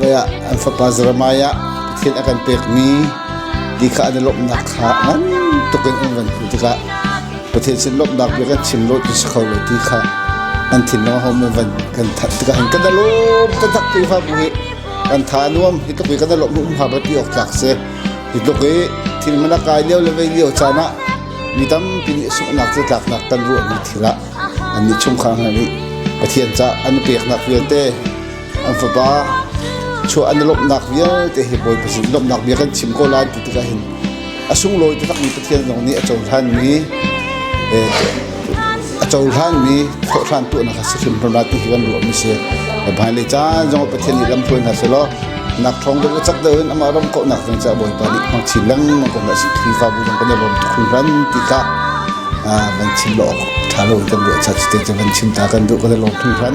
veiah an fapa Jeremiah ah Pathian a kan pekmi ti kha an i lawmhnak kha ngan tuk in an van hmuh tikah Pathian sin lawmhnak bia kan chim lo ti si kho lo ti kha an thinlung hom in van kan thanh tikah hin kan da lawm kan that ti fa bu hi kan tha nuam hi tuk hi kan da lawm um ha ba ti ok tlak se hi tuk hi thil mana kai leo le vei leo chan ah mi tampi nih sunghnak cu tlaknak kan ruah mi thilah an nih chung khang nih Pathian ca an peknak vialte an fapa chuah an lawmhnak vialte hi Bawi Pathian lawmhnak bia kan chim ko lai ti tikah hin a sunglawi takmi Pathian zong nih a cohlanmi a cohlanmi thawhran tuahnak a si hrimhrim lai ti hi kan ruahmi si hmailei caan zong Pathian nih lamhruai hna selaw nak thawng kan chak deuhin amah ram kauhnak ding caah Bawipa nih hmang chin lengmang ko hmah Khrihfabu zong kan i lawm tuk hrimhram ti kha van chim law ṭha lo in kan ruah cha cuti van chim ta kan duh kan i lawm hrimhram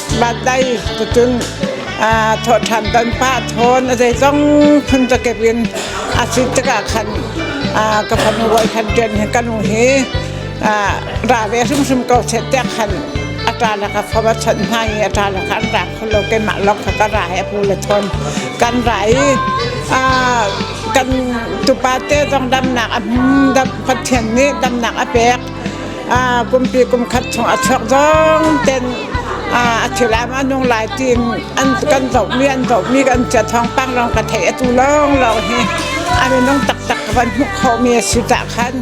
Bandai tutun thawhṭhan ton pah thawn a zeizong phun cakep in a si tikah khan ka fanu hawi khan ṭian hi ka nu hi ra ve hrimhrim ko set tiah khan a ṭana ka fom a chawnh hna i a ṭana kha an ra kho lo keimah lawng kha ka ra he a pu le ṭhawn kan ra i kan tupa te zong damnak a dam pathian nih damnak a pek pumpi kumkhat chung a chuak zong ten a thilam a nung lai tiin an kan zohmi an zohmi kan cia thawngpang lawng ka theih atu lawng lawng hi a minung taktak ka van hmuh khawhmi a si tah khan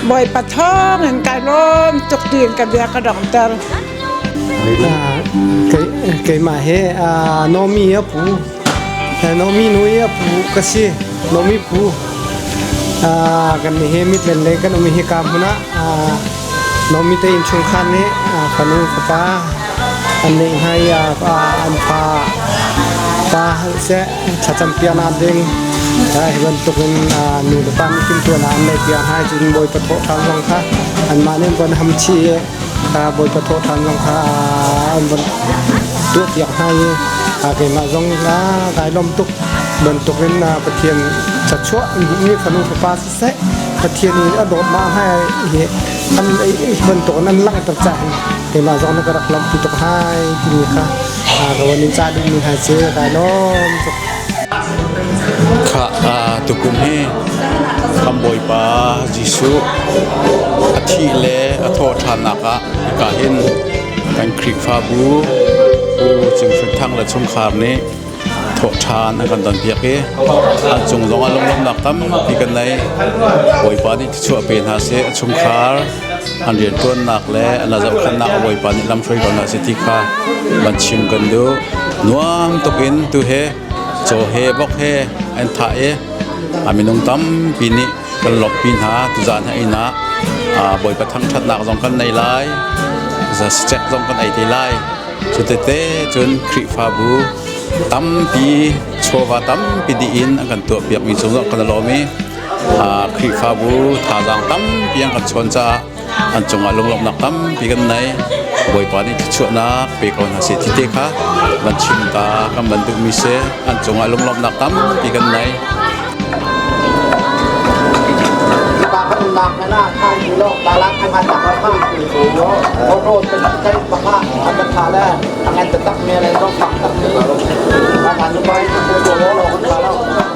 bawipa thawng in ka lawm tuk tiin ka bia ka dongter keimah he Nomi Pu Nomi nu hi a pu ka si. Nomi pu. kan ni he mitlen le kan um hi ka hmun ah Nomi te inchungkhar nih fanu fapa an nei hna i an pa pa seh thlacam pian ah ding hi bantuk in nu le pa nih timtuan ah an nei pian hai cun bawi pathawh hram zong kha anmah nih an von ham chih Ka Bawipa thawhṭhan zong kha an vun tuahpiak hna i keimah zong nih kai lawm tuk bantukin Pathian chachuah mi fanu fapa siseh Pathian in a dawt ma hai hi an bantukin an langhter ca hin keimah zong na ka rak lawmhpi tuk hai timi kha rawan in cah dingmi hna cu kai lawm tuk Khah tukum hi kan Bawipa Jesuh a thih le a thawhthannak ah hika hin kan Khrihfabu Pu Cinghrun Thang le chungkhar nih thawhthan an kan donpiak i an cung zong ah lunglawmhnak tampi kan nei Bawipa nih thluachuah pe hna seh a chungkhar an rianṭuannak le an zohkhenhnak a bawipa nih lamhruai ko hna sih ti kha van chim kan duh nuam tuk in tu he caw he bok he an thah i a minung tampi nih kan lawmhpi hna tu zan ha inn ah bawipa thangṭhatnak zong kan nei lai cek zong kan ei te lai cu tete cun khrihfabu tampi chawva tampi dih in an kan tuahpiakmi cung zong kan lawm i Khrihfabu thazaang tampi an kan chawn caah an cungah lunglawmhnak tampi kan nei. Bawipa nih thluachuahnak pe ko hna seh tite kha van chim ta kan van duhmi si an cungah lunglawmhnak tampi kan nei.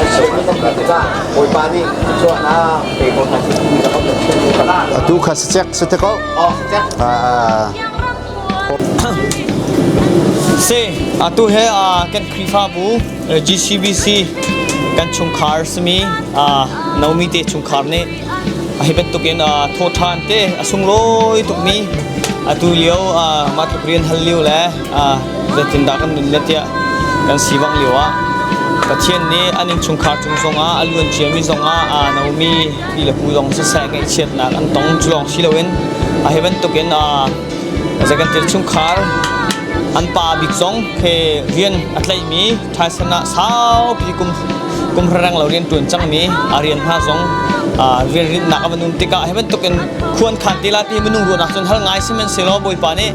an ser hna cang hna tikah Bawipa nih cuan a pe ko hna khi ti zong kan chim ko. Tu kha si chek si te ko. Oh si chek. Ah. Si atu he kan Khrihfabu GCBC kan chungkhar simi naomi te chungkhar nih hi bantukin thawthan te a sunglawi tukmi atu lio matluk rian hal lio le zeitindah kan nunnak tiah kan si bang lio ah Pathian nih an innchungkhar cung zongah a luan ciami zongah aa nomi pi le pu zong siseh ngaihchiatnak an tong cu lawng si loin a hi bantukin zei kan tir chungkhar an pa bik zong he rian a tlaihmi thaisen ah saupi kum kum reng lo rian tuan cangmi a rian hna zong rian rinnak a van um tikah hi bantukin khuan khan tila ti minung ruahnak cun hal ngai si men se law bawipa nih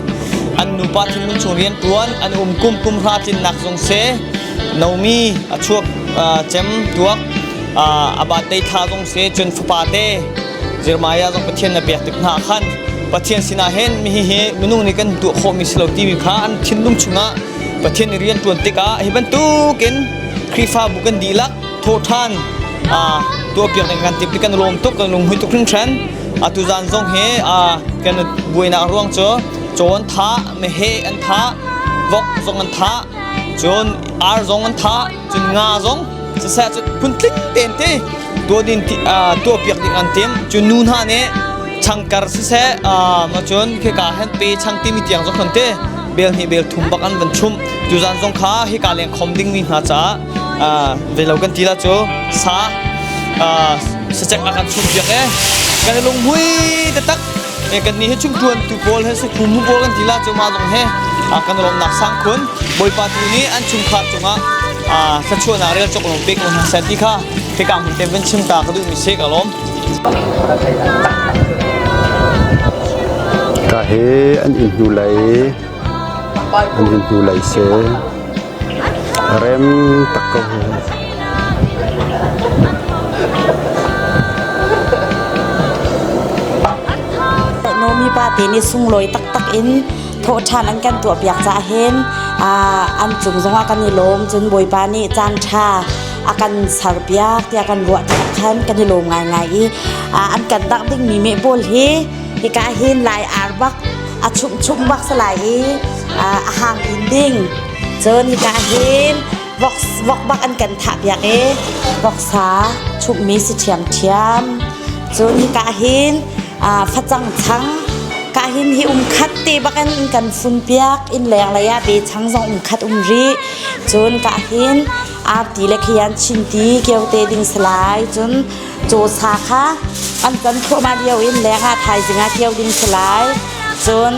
an nupa chungkhun chung rian ṭuan an um kum pum hra tlinnak zung se nomi a chuak cem tuak a batei thla zung se cun fapa te Jeremiah zong Pathian na pek tik hna khan Pathian sinah hen mi hi hi minung nih kan tuah khawhmi si lo timi kha an thinlung chungah Pathian i rian ṭuan tikah hi bantukin Khrihfabu kan dihlak thawhṭhan tuahpiak ding kan timh kan lawm tuk kan lunghui tuk hringhran atu zan zong hi kan buainak ruang cu cawn tha mehe an tha vok zong an tha cun ar zong an tha cun nga zong siseh cun phun tling ten te tuah din tuahpiak ding an tim cun nu hna nih changkar siseh ma cun khika hen pe chang timi tiang zong khon te bel hi bel thum bak an van chum tu zan zong kha hika leng khom ding mi hna caah Ah, ve lo kan ti la cu sa ah sacek ah kan chum piak e kan lunghui te tak e kan ni hi chung tuan tu pawl he su khum pawl kan ti la cu ma dong he a kan lom nak sang khun boipa tu ni an chung kha chunga a sachuan a rel chok lom pek lom sa ti kha te ka mun te ben chim ta ka du mi se ka lom ka he an in hnulai an in hnulai se A rem tuk ko. Nomi pate nih sunglawi taktak in thawhṭhan an kan tuahpiak caah hin an cung zongah kan i lawm cun Bawipa nih caanṭha a kan serpiak tiah kan ruah caah khan kan i lawm ngaingai i an kan dah dingmi mehpawl hi Hika hin lai ar bak a chumchum bak sa lai i a hang in ding. Cun hika hin vok, vok bak an kan thah piak i voksa chumhmi si ṭhiamṭhiam. Cun hika hin facang chang ka hin hi um khat te bakin in kan fun piak inn leng lei ah be chang zong um khat um rih cun ka hin arti le khian chinti kiote ding salai cun cawsa kha an ton thluahmah lio in leng ah thaizing ah kio ding si lai cun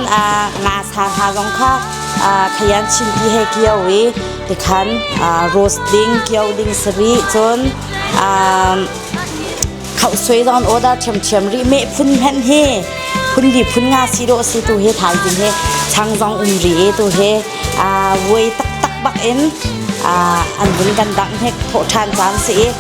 ngasa hna zong kha theian chinpi he kio i tikhan roast ding kio ding si rih cun khauhsuai zon order ṭhiamṭhiam rih meh phun hmanh hi phun di phun nga si dawh si tu he thaizing he chang zong um rih tu he vuai taktak bak in an vun kan dang hnek thawh ṭhan caan si i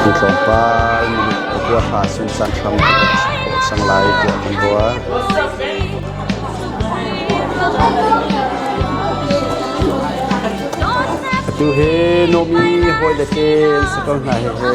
Hi tlawmpal huaha sunsan hram ka kan chim khawh cang lai tiah kan ruah. Tu hi Nomi hawile te an si ko hna hi hi.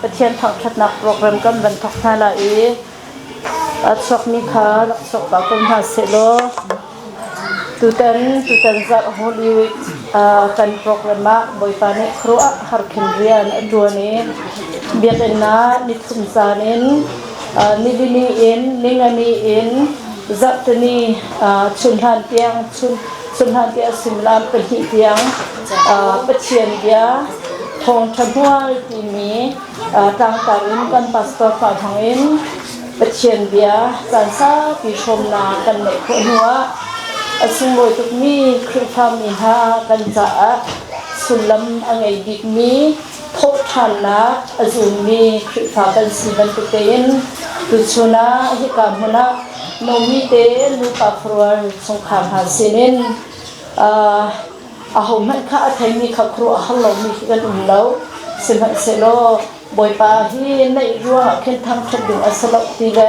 Pathian thangṭhatnak program kan van thawk hna lai i a chuakmi kha rak chuak pah ko hna sehlaw tutan tutan zarh holy uh, kan program ah Bawipa nih khuaruah har khin rian a ṭuan i biakinn ah nithum caan in uh, nilini in ningani in zarhtani uh, chunhlan tiang chun Cuhnahnte a sullam pahnih tiang Pathian bia thawngṭha hmual timi tlangtar in kan pastor fa thawngin Pathian bia caan saupi hrawmnak kan neih khawh hnuah a sunglawi tukmi Khrihfa mi hna kan caah sullam a ngei bikmi thawhṭhannak a zummi Khrihfa kan si bantuk tein tuchun ah hika hmun ah nomi tein nupa khuarual chungkhar hna sinin uh, ahohmanh kha a theimi kha khuaruah har lomi khi kan um lo sihmanhsehlaw Bawipa hi neih ruangah khin thangṭhat ding a si lo ti le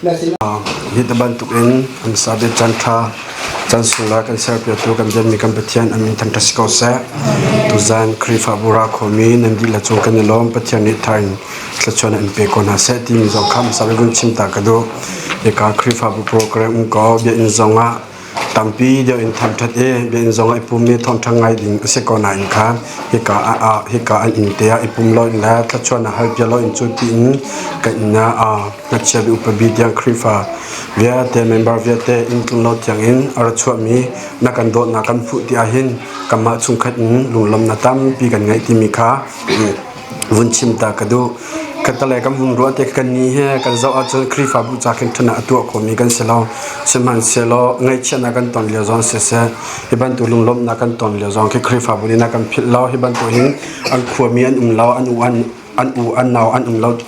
Hi ti bantuk in an sabe chan tha chan sulra kan serpiatu kan bianmi kan Pathian an min thangtha si ko seh. Tuzan Khrihfabu ra khomi nan dih la cung kan i lawm Pathian nih thar in thluachuan in pe ko hna seh timi zong kha sabe vun chim ta ka duh. Ika Khrihfabu program ko biakinn zong ah Tampi deuh in thangṭhat i biainn zong ah i pum i thawngṭha ngai ding a si ko nain kha hika ah hika an inn te ah i pum loin le thluachuan ah hal bia loin cu tiin ka inn ah ngakchia mi upa bi tiang Khrihfa vialte member vialte inn tlunglo tiang in a ra chuahmi na kan dawtnak kan hmuh ti ahhin kanmah chungkhat in lunglawmhnak tampi kan ngeih timi kha vun chim ta ka duh ka tale kan vun ruah te kan ni he kan zoh ahcun Khrihfabu ca khin ṭhan ah a tuah khomi kan si lo sihmanhsehlaw ngaihchiatnak kan ton lio zong siseh hi bantuk lunglawmhnak kan ton lio zong khi Khrihfabu nih a kan philh lo hi bantuk hin an khuami an um lo an u an an u an nau an um lo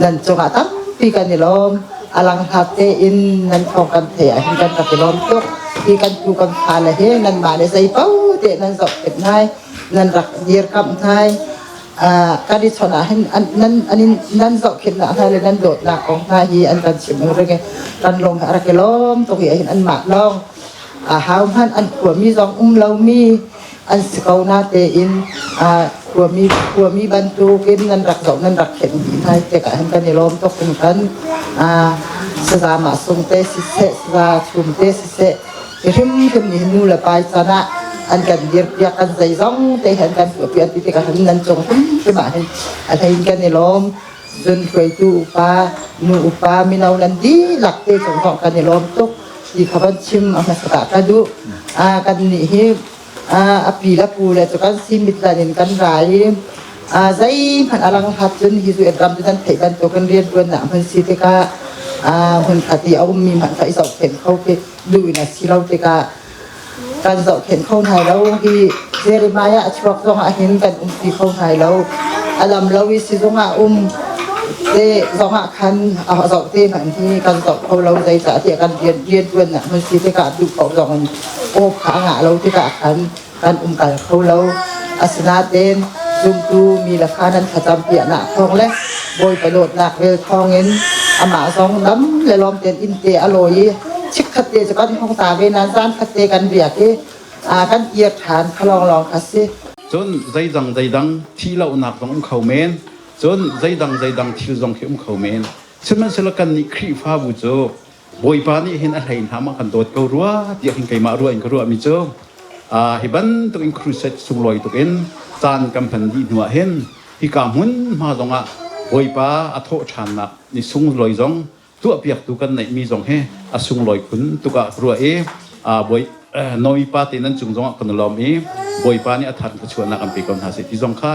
nan cungah tampi kan i lawm alanghnak tein nan thawng kan thei ahhin kan rak i lawm tuk i kan tu kan fale he nanmah nih zei po te nan zoh pet nai nan rak dir kam nai kan i chon ahhin nan nan zoh khin nak hna le nan dawt nak kong hna hi an kan chim ring kan lawng a rak i lawm tuk i ahhin an mah lawng a hau hman an khuami zong um lomi an si ko na tein khuami khuami bantukin nan rak zoh nan rak themh dih hna tik ah hin kan i lawm tuk in kan saza mahsung te siseh saza chum te siseh i hrimhrim nih nu le pai can ah an kan dirpiak kan zei zong te hen kan tuahpian ti tikah hin nan cung hrimhrim ah hin a hlein kan i lawm zun hruaitu upa nu upa mino nan dihlak te cung thawng kan i lawm tuk ti kha kan chim a hmasaka ka duh kan nih hi a pi le pu le cu kan simit lan in kan ra i zei hmanh a lang hlat cun hi cu ram cu kan theih bantuk kan rian tuan nak hman si tikah hmun khat i a ummi hmanh kha i zohkhenh kho khi duh in a si lo tikah kan zohkhenh kho hna lo hi Jeremiah a chuak zong ah hin kan um ti kho hna lo a lam lo i sizung ah um te zong ah khan a zoh te hmanh hi kan zoh kho lo zeicah tiah kan rian rian tuan nak hmun si tikah duh ko zong in aw kha a ngah lo tikah khan kan um kal kho lo asinaten zumtu mi lakha nan thlacam piahnak thawng le Bawipa dawtnak ve thawngin amah zong dam le lawm tein inn te a lawi i chikkhat te cu kan hong ta ve nan zan khat te kan biak i aa kan ir ṭhan kha lawnglawng kha si. Cun zeidang zeidang thih lonak zong um kho men, cun zeidang zeidang thil zong khi um kho men, sihmanhsehlaw kannih Khrihfabu cu Bawipa nih hin a hlei hna ma kan dawt ko rua tiah hin keimah ruah in ka ruahmi cu hi bantuk in crusade sunglawi tuk in caan kan hman dih hnu ah hin hika hmunhma zong ah Bawipa a thawh ṭhannak ni sunglawi zong tuahpiaktu kan neihmi zong hi a sunglawi phun tuk ah ka ruah i Nomi pa te nan cung zongah kan i lawm i Bawipa nih a thar ka chuahnak an pe ko hna sih ti zong kha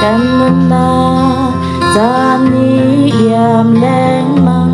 kan nunna caan ni iam lengmang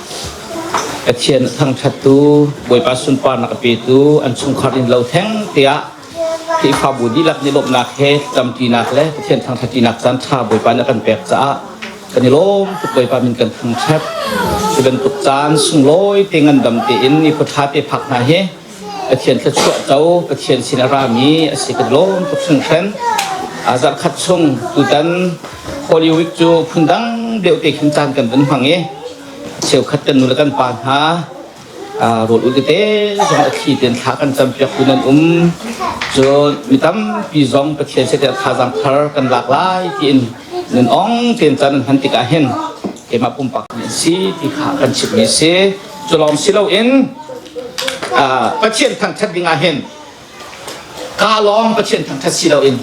Pathian a thangṭhattu Bawipa sunparnak a petu an chungkhar innlo theng tiah Khrihfabu dihlak nih lawmhnak he ṭamṭinak le Pathian thangṭhattinak caan ṭha Bawipa nih a kan pek caah kan i lawm tuk Bawipa min kan thangṭhat. Cu bantuk caan sunglawi te ngandam tein i khuaṭha te phak hna hi Pathian thluachuah co Pathian sin a rami a si kan lawm tuk hringhran. A zarh khat chung tutan Holy Week cu phundang deuh te khin caan kan van hmang i cheukhat kan nule kan pa hna rawl ul tete zong a thli ten thla kan campiak tu nan um cun mi tampi zong Pathian se tha thazaang thar kan lak lai tiin Nan ong tein can hman tikah hin keimah pumpak mi si ti kha kan chimhmi si. Cu lawng si loin Pathian thangṭhat dingah hin ka lawng Pathian thangṭhat si loin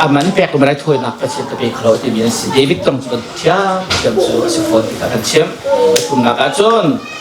a man pek ko manai thawinak Pathian ka pe kho lo timi an si. David kong cu kan thiam thiam cu a si fawn ti kha kan chimh. Pathumnak ah cun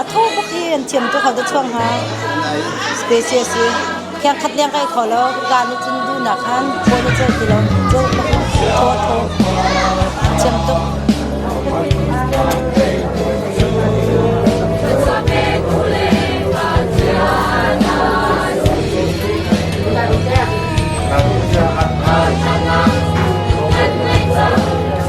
A tho buk hi an thiam tuk hau te chuang hna. Space a si. Khiang khat leng kai tho lo. Zan ni cun dunak han thaw na cel ti lo. Zo thaw thaw. Thiam tuk.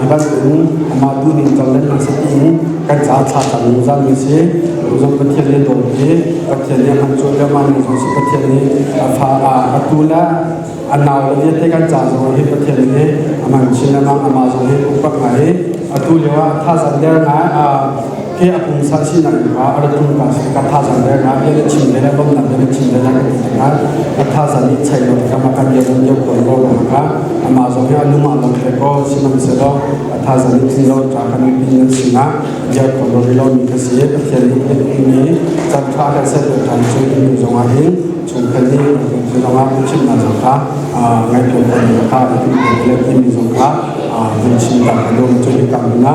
tibantukin amah duhning carlen na si tiin kan ca thlah tam zungzal mi si zong Pathian nih dawt hi Pathian nih han cuan leo man zong si Pathian nih a fa a atu le a nau le vialte kan ca zong hi Pathian nih a man chin le mang amah zong hi upat ngai atu lio ah thazan der ngai he a pumsa sinak in a rat tum ka si ka thazan le nga bia na chim le na bamnak bia na chim le na kan ti nga ka thazan ni chai lo ka ma kan bia kan bia ko lo na ka ama zo ya lu ma lo khe ko sinam se lo a thazan ni pin lo ta kan ni pin nan singa ya ko lo ri lo ni ka si pathian ni pin ni chan tha ka se to tan chu ni zonga hin chung kan ni chu zonga ku chim na zo ka ngai to kan ni ka le ni zong ka mun chim ta ka lo chu ni kam na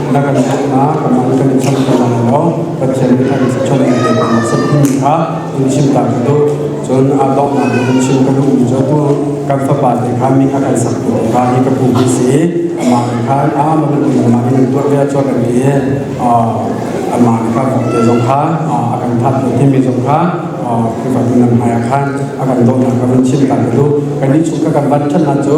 na kan thlennak kan nang kan cham ka lang lo Pathian nih kan cham ne le kan sat ni kha in chim ka tu cun a donghnak in chim ka duh mi jo tu kan fapa te kha mi kha kan sak tu ka hi ka pu hi si ama khan a ma bin ma in tu ve cho kan ti ama ka mo te zong kha a kan that tu thi mi zong kha khi ba nan haya khan a kan donghnak ka kan chim ka tu kan ni chung ka kan ban chan na chu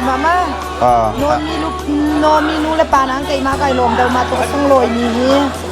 Mama, Nomi nu le pa nan keimah kai lawm deuh ma tuk a sunglawi mi hi.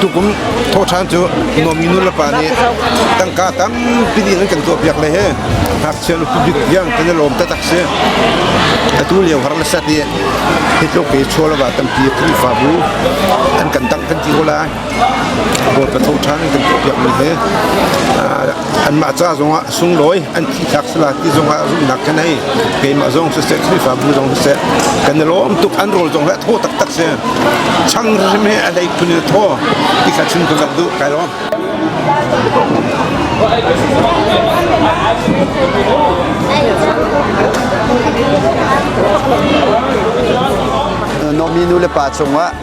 tukum thawhṭhan cu Nomi nulepa nih tangka tampi in an kan tuahpiak le hi ngakchia nu pubik tiang kan i lawm taktak si atu lio har le sat i hi tluk i chual wa tampi khrihfabu an kan tangh kan ti ko lai bawipa thawhṭhan in kan tuahpiak mi hi anmah ca zongah sunglawi an thihtlak sala ti zongah rumnak kan hei keimah zong siseh khrihfabu zong siseh kan i lawm tuk an rawl zong hi a thaw taktak si chang hrim he a hlei phun in a thaw ti kha chim ka duh kai lawm Nominu le pa cungah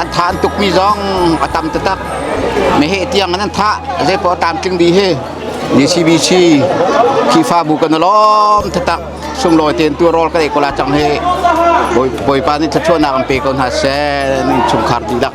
An thah an tukmi zong a tam taktak. Meheh tiang an thah. Zeipaoh a tam tling bi hi DCBC Khifabu kan lawm taktak sunglawi tein tu rawl ka ei kola cang hi Bawipa nih thluachuahnak an pe ko hna seh chungkhar dihlak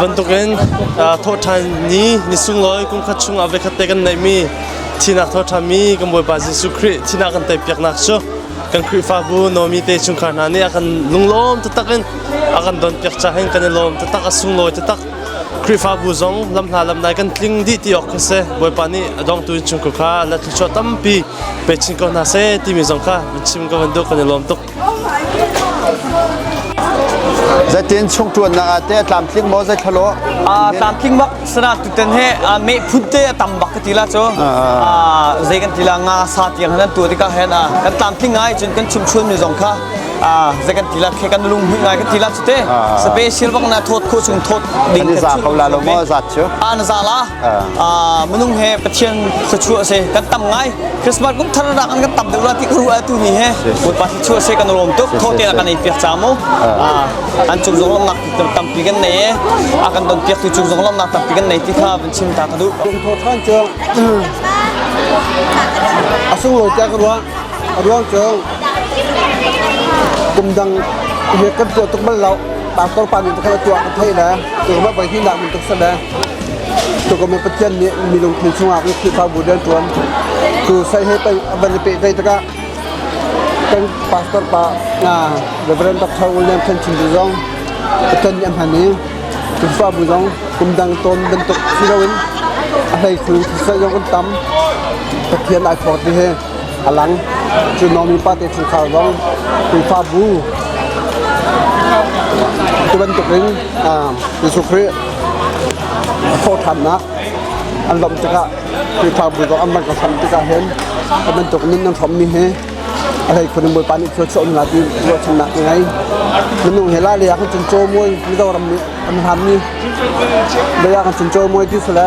bantukin thawhṭhan ni ni sunglawi kumkhat chung ah vekhatte kan neihmi thinak thawhṭhanmi kan Bawipa Jesuh Khrih thinak kan tei piaknak cu kan Khrihfabu nomi te chungkhar hna nih a kan lunglawm taktak in a kan don piak ca hin kan i lawm taktak a sunglawi taktak Khrihfabu zong lam hna lam nai kan tling dih ti awk kha se Bawipa nih a dongtu in chungkhar kha la thluachuah tampi pe chin ko hna se timi zong kha chim ka van duh kan i lawm tuk Zetin chung tuan na te tlamtling mo zai thlalo a tlamtling mak sana tu ten he me phun te tam bak ka tila cho a zai kan tila nga sa tiang han tu dika hen a kan tlamtling ngai chun kan chum chun mi zong kha a zai kan tila khe kan lung hui ngai kan tila chu te special bak na thot kho chung thot ding ka za ko la lo mo za chu an za la minung he pathian thluachuah se kan tam ngai christmas kum thar ra kan kan tam deuh la ti ka ruah tu ni he bawipa thluachuah se kan lawm tuk tho te la kan ei piak cha mo an chung zong lomnak tampi kan nei e a kan don piak tu chung zong lomnak tampi kan nei ti kha van chim ta ka duh thọ than chu a sung lo cha ka ruah a ruang chu kum dang ye kan tuah tuk bal lo par tor pa min ta khala tuah ka thai la tu ma bai hin la mun tuk sa da Tukum Pathian nih mi lungthin chungah Khrihfabu rianṭuan tu sai he a van i pehtlaih tikah kan pastor pa Reverend Dr. William Than Chin tu zong Pathian nih a hman i Khrihfabu zong kum dang tawn bantuk si loin a hlei khul thisa zong kan tam Pathian ai phawt hi a lang cu nomi pate chungkhar zong Khrihfabu cu bantukin Jesuh Khrih thawhthannak an lawmh tikah Khrihfabu zong an van ka hram tikah hin hi bantuk nun an hrawmmi hi a hlei khun bawipa nih thua chuah nila ti ruahchannak ka ngei minung he la le ah kan cun caw muai mizoram nih an hlanmi le ah kan cun caw muai ti sale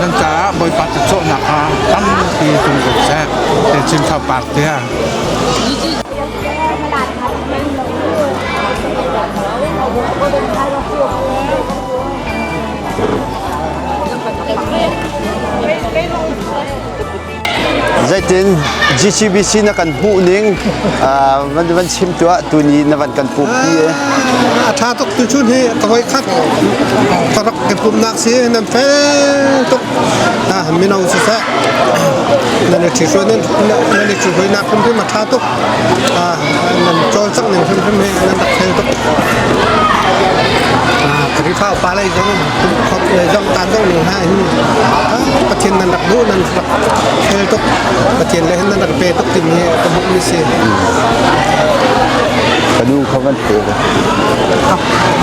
Nan caah Bawipa cawhnak kha tampi hlun ko seh. Te Chin Thau Park tiah. Thank you. Zeitin GCBC na kan hmuhning van van chim tuah tu ni na van kan pumpi e. A tha tuk tu chun hi ka hoi khat ka rak ke pumnak si nan fel tuk na minong si sa nan ri thi suan nan ri thi hoi na phun ma tha tuk nan chol sang ning phun phun he nan rak fel tuk ka ri fa pa lai zo le zamtan ko ning ha hin Pathian nan rak duh nan rak khel tuk Pathian le hin nan rak pe tuk timi hi ka hmuh mi si ka nu kha kan pe ko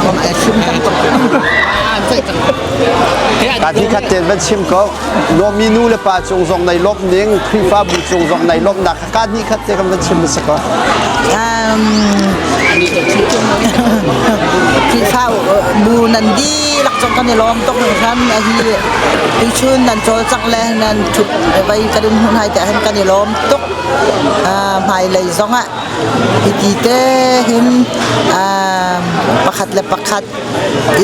kan ai sim cang tuk an sai cang ka thi khat ten van chim ko lomi nu le pa cung zong nei lom ning khrifabu cung zong nei lom nak Kaa hnih khat te kam kan chim a ko. Khrihfa bu nan di lak cang kan i lawm tuk ning hram a hi i chun nan col cak le nan thup vai kan in hun hai te hen kan i lawm tuk hmai lei zong ah hi ti te hin pakhat le pakhat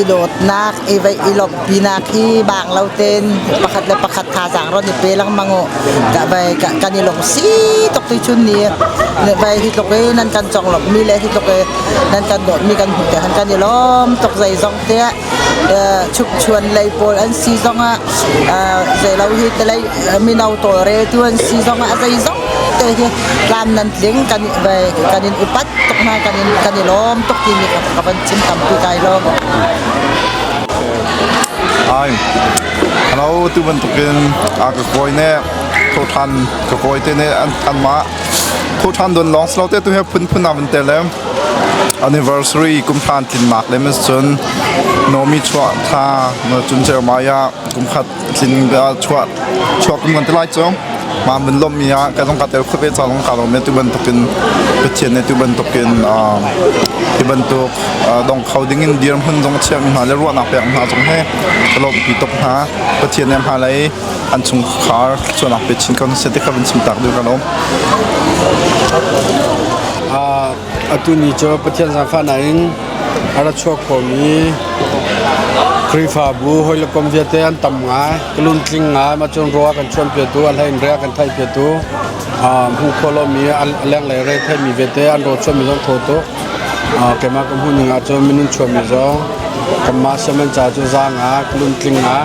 i dawtnak i veih i lawmhpinak hi bang lo ten pakhat le pakhat thazaang ron i pe lengmang u ka vai kan i lungsi tuk tu chun ni vai hi tluk i nan kan cong lawmhmi le hi tluk i nan kan dawtmi kan hmuh te han kan i lawm tuk zei zong te chukchuan lei pawl an si zong ah zei lo hi te lei mino tawlre tu an si zong ah zei zong te hi tlam nan tling kan kan in upat tuk hna kan in kan i lawm tuk ti nih ka van chim tampi kai lawm ai halo tu bantukin a ka koi ne tho than ka koi te ne an an ma tho than don long slow te tu he phun phun na ban te le anniversary kum than tlin nak le min cun nomi chwa tha na chun cher maya kum khat tling bia chuah chuak kan ngan te lai cu ma mun lom mi ah kan ka tel khuat ve chang ka lo me tu ban tuk in pathian ne tu ban tuk in ti ban tuk dong kho ding in dir hun zong chia mi hna le ruah nak pek hna zong he ka lo pi tok hna pathian ne hna lei an chung khar chuan nak pe chin kan se te ka ban chim tak du ka lo Atu ni cu Pathian zaangfahnak in a ra chuak khomi Khrihfabu hawi le kom viate an tam ngai. Ka luntling ngai ma cun ruah kan chuanpiatu, an hlei in rea kan thaihpiatu, hmuh khawh lomi a lenglei rei theimi viate an raw chuanmi zong thaw tuk. Keimah ka hmuh ning ahcun minun chuanmi zong kanmah siam an ca cu zaang ah ka luntling ngai.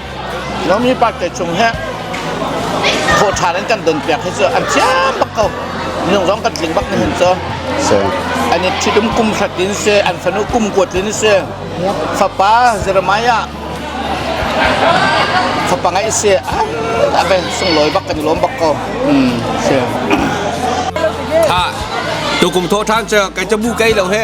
Lomi party chung he thawhṭhan an kan donpiak hi cu an thiam bak ko. Minung zong kan tling bak ni hun cu. An i ṭhitum kum hrat in si, an fanu kum kuat in si, fapa Jeremiah fapa ngeih si, a ve sunglawi bak kan i lawm bak ko. Hmm, si. Ha, tukum thawhṭhan cu kai cabu kai lo he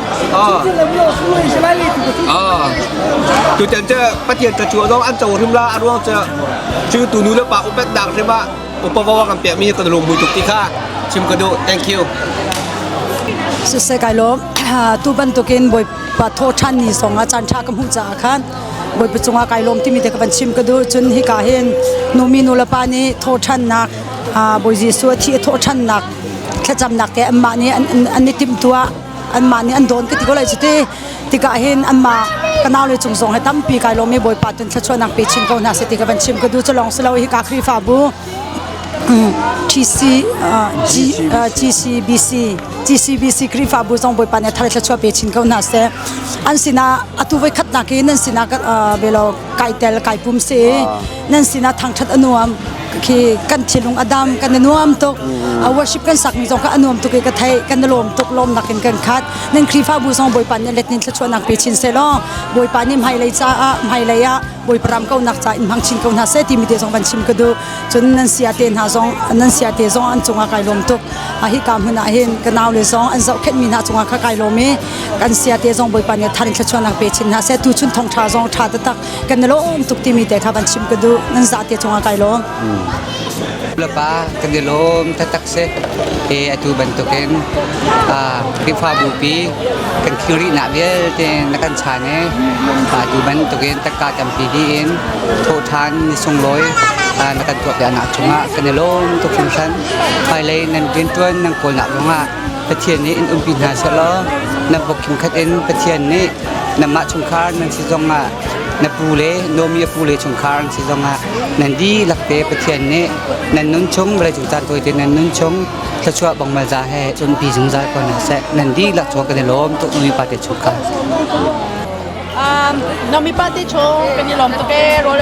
Tutan cu Pathian ca cuwa zong an co hrim la a ruang cu cu tu nu le pa upek dak hrim ah upa wa kan pek mi kan lung mui tuk ti kha chim ka duh thank you sise kai lom tu bantukin bawipa tho than ni songah chan tha ka hmuh caah khan bawipa cungah kai lom timi te ka van chim ka dur cun hi ka hin nu mi nu le pa nih tho thannak bawi jesu a thi tho thannak thlacamnak ke amma nih an i timtua anmah nih an dawn ka ti ko lai cu ti tikah hin anmah ka nau le cung zong he tampi kai lawm i bawipa tun thlachuahnak pe chin ko hna seh ti ka van chim ka du cu lawng si lo hi ka khrihfabu TC GCBC GCBC khrihfabu zong bawipa nih thar thlachuah pe chin ko hna seh an sinah atu voi khatnak in an sinah velo kai tel kai pum si nan sinah thangthat a nuam khi kan thinlung a dam kan i nuam tuk a worship kan sakmi zong kha a nuam tuk i ka thei kan i lawm tuk lawm nakin kan khat nan khrihfabu zong bawipa nih let nin thluachuahnak pe chin se law bawipa nih hmailei caah hmailei ah bawipa ram kaunak ca in hmang chin ko hna seh timi te zong van chim ka duh cun nan sia te hna zong nan sia te zong an cungah kai lawm tuk a hi ka hmun ah hin ka nau le zong an zohkhenhmi hna cungah kha kai lawm i kan sia te zong bawipa nih tharin thluachuahnak pe chin hna seh tu chun thong tha zong tha tatak kan lawm tuk timi te kha kan chim ka duh nan za te chunga kai lawm lapa kan i lawm tatak se e atu bantukin khrihfabu pi kan khiri na vialte na kan chan e atu bantukin takka tampi hi in thawhthan ni sunglawi na kan tuah piak nak chungah kan i lawm tuk hrimhran hmailei nan riantuan nan kawl nak zongah Pathian nih in umpi hna selaw nan pok khim khat in Pathian nih Nanmah chungkhar nan si zongah na pu le Nomi a pu le chungkhar an si zongah nan dihlak te Pathian nih nan nun chung vawleicung caan tawi te nan nun chung thluachuah bongmal za he cunpi zungzal ko hna seh nan dihlak chung kan i lawm tuk Nomi pa te chungkhar. Um, Nomi pa te chung kan i lawm tuk e rawl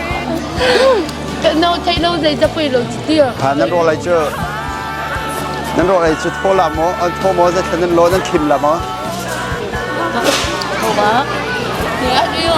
no thei lo zei zapui lo chi ti ha nan ro lai chu nan ro lai chu tho la mo an tho mo za nan lo nan khim la mo tho ba ni a rio